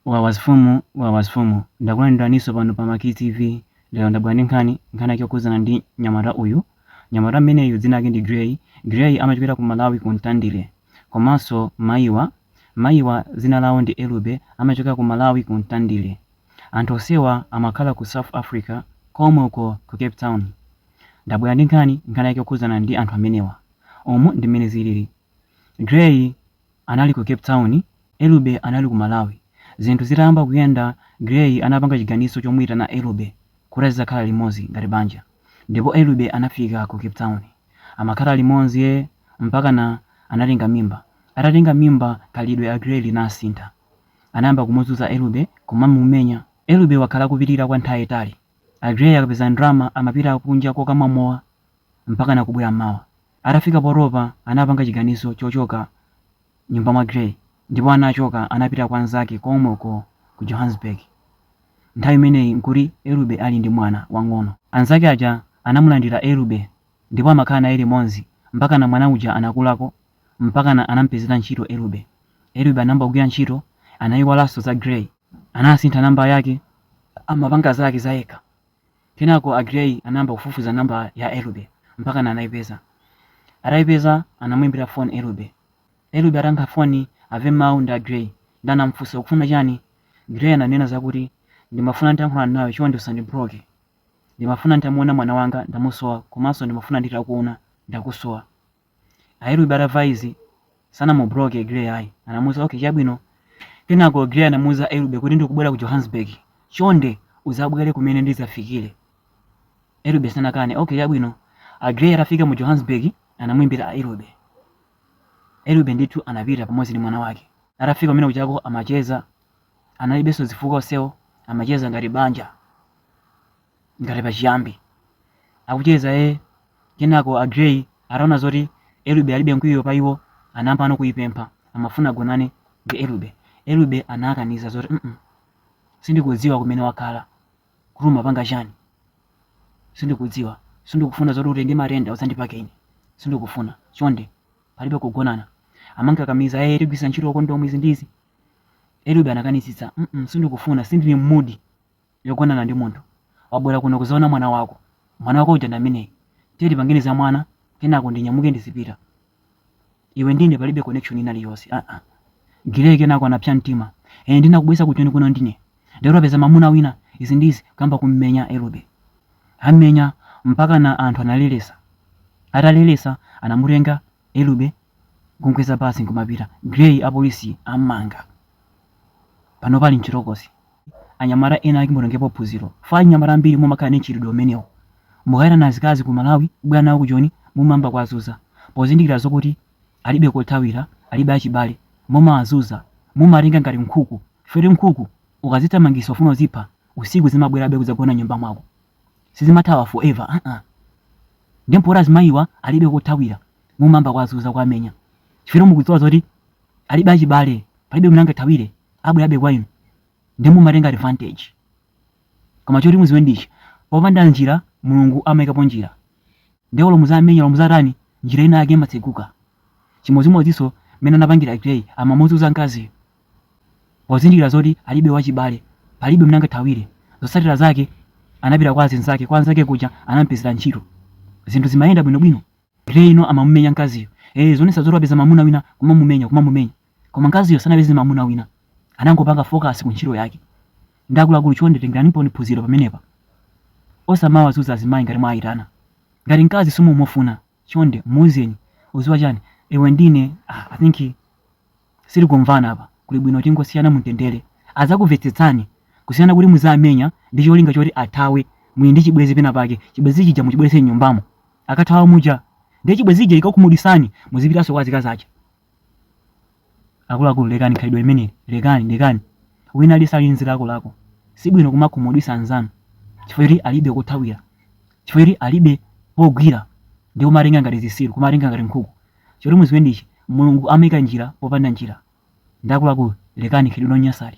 Wawasfumu wawasfumu ndakulandiraninso pano pa Maki TV lero ndabwera ndi nkhani nkhani yake yokhudzana ndi nyamata uyu nyamata mmeneyu dzina lake ndi Gray Gray amachokera ku Malawi ku Mtandire komanso mayiwa mayiwa dzina lawo ndi Elube amachokera ku Malawi ku Mtandire anthu onsewa amakhala ku South Africa komwe uko ku Cape Town ndabwera ndi nkhani nkhani yake yokhudzana ndi anthu amenewa umu ndi mmene zilili Gray anali ku Cape Town, Elube anali ku Malawi. Zinthu zitayamba kuyenda, Gray anapanga chiganizo chomuitana Elube kuti azizakhala limodzi ngati banja ndipo Elube anafika ku Cape Town. Amakhala limodzi mpakana anatenga mimba. Atatenga mimba, khalidwe la Gray linasintha. Anayamba kumuzunza Elube, kumamumenya. Elube wakhala akupilira kwa nthawi yayitali. A Gray akapeza ndalama amapita kunja kokamwa mowa mpakana kubwera m'mawa. Atafika potopa anapanga chiganizo chochoka nyumba mwa gray ndipo anachoka anapita kwa anzake komweko ku johannesburg nthawi imeneyi nkuti elube ali ndi mwana wang'ono anzake aja anamulandila elube ndipo amakhala naye limodzi mpakana mwana uja anakulako mpakana anampezela ntchito elube elube anayamba kugwila ntchito anaiwalaso za gray anasintha number yake amapanga zake zayekha. Kenako a Gray anayamba kufufuza namba ya Elube mpakana anaipeza. Ataipeza anamuimbira foni Elube. Elube atayankha foni amve mau ndi a Gray nde anamufunsa ukufuna chani? Gray ananena zakuti ndimafuna nditayankhulana nawe chonde usandibuloke. Ndimafuna nditamuona mwana wanga ndamusowa komanso ndimafuna nditakuona ndakusowa. A Elube atamva izi, sanamubuloke Gray ayi. Anamuuza, Ok, chabwino. Kenako Gray anamuuza Elube kuti, Ndikubwera ku Johannesburg. Chonde udzabwere kumene ndidzafikire. Elube sanakane. Ok, chabwino. A Gray atafika mu Johannesburg, anamuimbira Elube. Elube ndithu anapita pamodzi ndi mwana wake. Atafika kumene kuchako amacheza, analibenso zifukwa onsewo, amacheza ngati banja. ngati pachiyambi akucheza e kenako a Gray ataona zoti Elube alibe mkwiyo pa iwo anayambano kuipempha amafuna agonane ndi Elube Elube anakanitsa zoti mm sindikudziwa kumene wakhala kuti umapanga chani sindikudziwa sindikufuna zoti utenge matenda udzandipake ine sindikufuna chonde palibe kugonana amankakamiza e tigwiritsa ntchito kondomu izi ndizi Elube anakanitsitsa mm sindikufuna sindili m'mood yogonana ndi munthu, wabwera kuno kudzaona mwana wako. Mwana wako uja ndi ameneyu. Tiye tipangeni za mwana, kenako ndinyamuke ndizipita. Iwe ndi ine palibe connection ina iliyonse. Ah ah. Gray kenako anapsa mtima. Eh, ndinakubweretsa ku Joni kuno ndine. Lero wapeza mamuna wina, izi ndizi, kuyamba kummenya Elube. Ammenya, mpakana anthu analeletsa. Ataleletsa, anamutenga, Elube kumkweza basi nkumapita. Grey apolisi ammanga. Panopa ali mchitokosi. Anyamata ena ake mutengepo phunziro. Chifukwa anyamata ambiri mumakhala ndi mchitidwe umenewu. Mukayitana azikazi ku Malawi kubwera nawo ku Joni mumayamba kuwazuza. Pozindikira zokuti alibe kothawira, alibe achibale, mumawazuza. Mumawatenga ngati nkhuku. Chifukwa choti nkhuku ukazithamangisa ufuna uzipha, usiku zimabwerabe kudzagona mnyumba mwako. sizimathawa forever aa ndiye mpoti azimayiwa alibe kothawira mumayamba kuwazuza kuwamenya chifukwa mukudziwa zoti alibe achibale palibe mene angathawire abwerabe kwa inu ndiye mumatenga advantage koma choti muziwe ndichi popanda njira mulungu amayikapo njira ndiye olo muziwamenya olo muziwatani njira ina yake imatseguka chimodzimodzinso mene anapangira Grey amamuzuza mkaziyo Pozindikira zoti alibe wachibale, palibe mene angathawire, zotsatira zake anapita kwa azinzake, kwa anzake kuja anampezera ntchito. Zinthu zimayenda bwino bwino. Grey uyu amamumenya nkaziyo. Eh zonena zoti wapeza mamuna wina kumamumenya kumamumenya. Koma nkaziyo sanapeze mamuna wina. Anangopanga focus ku ntchito yake. Nde akuluakulu chonde tengeraniponi phunziro pamenepa. Osamawazuza azimayi ngati mwaayitana. Ngati nkazi simumufuna, chonde muuzeni uziwa chani iwe ndi ine ah, i think sitikumvana apa kuli bwino tingosiyana mumtendere azakuvetsetsani kusiyana kuti muziwamenya ndi cholinga choti athawe muli ndi chibwezi pena pake chibwezi chija muchibwerese mnyumbamo akathawa muja ndiye chibwezi chija chikakhumudwisani muzipitaso kwa azikazi aja akuluakulu lekani khalidwe limeneli lekani lekani wina aliyense ali ndi zilakolako sibwino kumakhumudwisa anzanu chifukwa choti alibe kothawira chifukwa choti alibe pogwira ndi kumawatenga ngati zisiru kumawatenga ngati nkhuku choti muziwe ndichi mulungu amaika njira popanda njira nde akuluakulu lekani khalidwe lonyasali